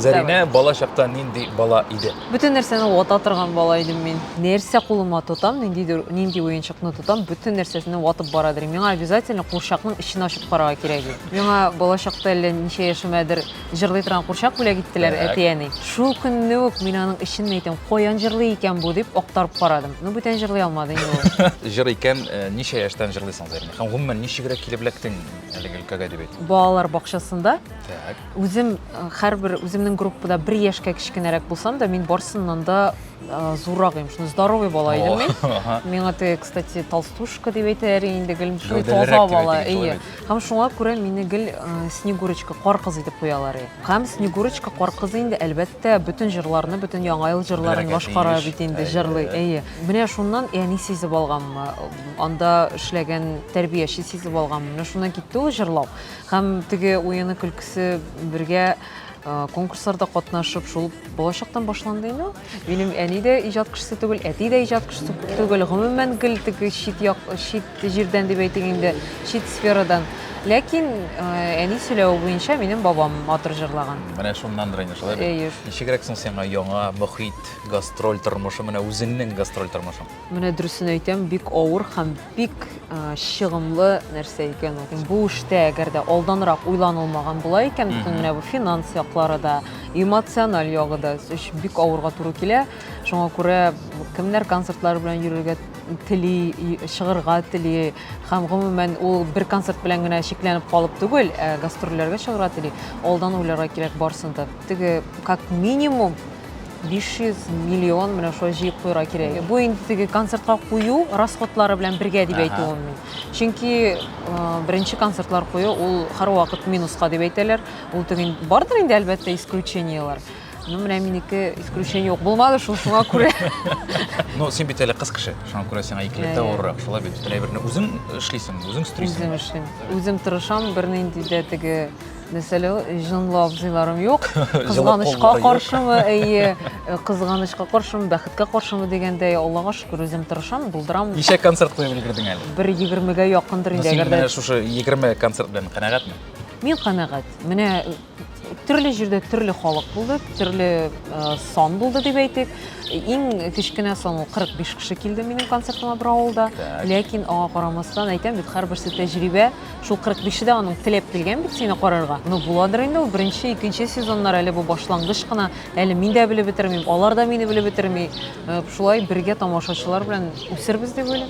Зәринә бала чакта нинди бала иде? Бөтен нәрсәне вата торган бала идем мин. Нәрсә кулыма тотам, ниндидер нинди уенчыкны тотам, бөтен нәрсәсенә ватып бара дирем. Миңа обязательно курчакның эчен ачып карарга кирәк иде. Миңа бала чакта әллә ничә яшемәдер җырлый торган курчак бүләк иттеләр Так. әти-әни. Шул көнне үк мин аның эчен әйтәм, каян җырлый икән бу, дип актарып карадым. Ну, бүтән җырлый алмады инде ул. Җыр икән, ничә яшьтән җырлыйсың, Зәринә? Һәм гомумән, ничегрәк килеп эләктең әлеге өлкәгә дип әйт. Балалар бакчасында. Так. Үзем һәрбер үземнең группада бер яшькә кечкенәрәк булсам да, мин барсыннан да зуррак идем. Шуны здоровый бала идем мин. Миңа те, кстати, толстушка дип әйтәләр инде гел. Шуны таза бала, әйе. Һәм шуңа күрә мине гел Снегурочка кар кызы дип куялар иде. Һәм Снегурочка кар кызы инде әлбәттә бөтен җырларны, бөтен яңа ел җырларын башкара бит инде, җырлый, әйе. Менә шуннан әни сизеп алганмы, анда эшләгән тәрбияче сизеп алганмы, менә шуннан китте ул җырлау. Һәм теге уены көлкесе бергә конкурсларда катнашып, шул балачактан башланды инде. Минем әни дә иҗат кешесе түгел, әти дә иҗат кешесе түгел. Гомумән гел теге чит як, чит җирдән дип әйтик инде, чит сферадан. Ләкин әни сөйләве буенча минем бабам матур җырлаган. Менә шуннандыр инде шулай. Әйе. Ничегрәк соң сиңа яңа мөхит, гастроль тормышы, менә үзеңнең гастроль тормышың? Менә дөресен әйтәм, бик авыр һәм бик чыгымлы нәрсә икән ул. Бу эштә әгәр дә алданрак уйланылмаган була икән, бөтен менә бу финанс яклары да, эмоциональ ягы да бик авырга туры килә. Шуңа күрә кемнәр концертлар белән йөрергә тели, чыгырга тели һәм гомумән ул бер концерт белән генә чикләнеп калып түгел, ә гастрольләргә чыгырга тели. Алдан уйларга кирәк барсын да. Теге как минимум 500 миллион менә шулай җыеп куйырга кирәк. Бу инде теге концертка кую расходлары белән бергә дип әйтүем мин. Чөнки э, беренче концертлар кую ул һәрвакыт минуска дип әйтәләр. Ул теге бардыр инде әлбәттә исключениелар. Ну, менә минеке исключение юк булмады шул шуңа күрә. Ну, син бит әле кыз кеше, шуңа күрә сиңа икеләтә Иә, иә. авыррак. Шулай бит бөтен әйберне үзең эшлисең, үзең стрисең. Үзем эшлим. Үзем тырышам, бернинди дә теге Мәсәлән, җынлы абзыйларым юк. Кызганычка каршымы, әйе, э, кызганычка каршымы, бәхеткә каршымы дигәндәй, Аллага шөкер, үзем тырышам, булдырам. Ничә концерт куеп өлгердең әле? Бер егермегә якындыр инде, әгәр дә. Шушы егерме концерт белән канәгатьме? Мин канәгать. Менә э, төрле җирдә төрле халык булды, төрле э, сан булды дип әйтик. Иң кечкенә сан ул 45 кеше килде минем концертыма бер авылда. Ләкин аңа карамастан әйтәм бит, һәрберсе тәҗрибә. Шул 45-е дә аның теләп килгән бит сине карарга. Ну, буладыр инде ул беренче, икенче сезоннар әле бу башлангыч кына. Әле мин дә белеп бетермим, алар да мине белеп бетерми. Э, шулай бергә тамашачылар белән үсербез дип уйлыйм.